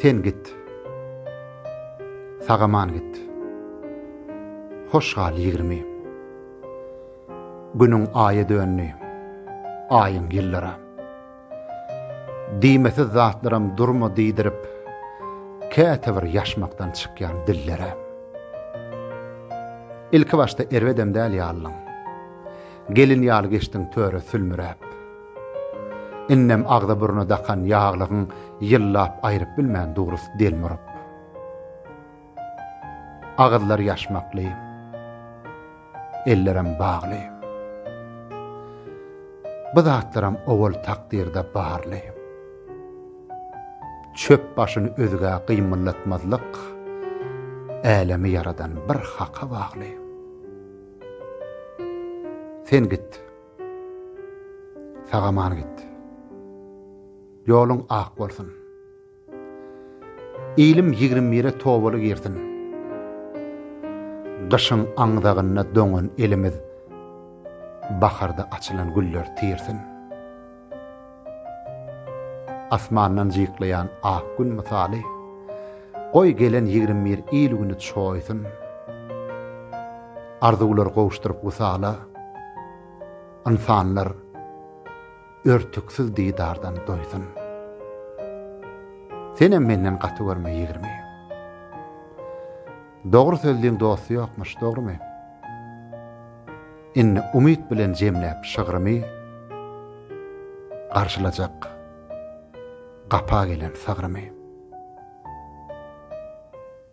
Sen git. Sag-aman git. Hoş gal ýigrimi. Günüň aýa döndi. Aýyň ýyllara. Diýmesiz zatlaram durma diýdirip, kätebir ýaşmakdan çykýan dillere. Ilki başda erbedem däl ýalyň. Gelin ýaly geçdiň töre sülmüräp. Indem agza-burna dakan ýaglygyň ýyllap aýryp bilmän durus delmuryp. Agyzlar ýaşmakly. Ellerem bagly. Bu zatlaram owal takdyrda barly. Çöp başyny özgä gymyllatmazlyk älemi ýaradan bir haka bagly. Sen git. Sagaman git. Ýoluň ak bolsun. Ilim ýigrimi bire tobaly girsin. Gyşyň aňzagynda doňan elimiz, baharda açylan güller tirsin. Asmandan jyklaýan ak gün mysaly, Goý, gelen ýigrimi bir il güni çoýsun. Arzuwlar gowuşdyryp wysala, Ynsanlar örtüksiz didardan doýsun. Senem menden gaty görme ýigrimi. Dogry sözliň dosty ýokmuş dogrymy? Indi umyt bilen jemläp şygrymy Garşylajak gapa gelen sygrymy.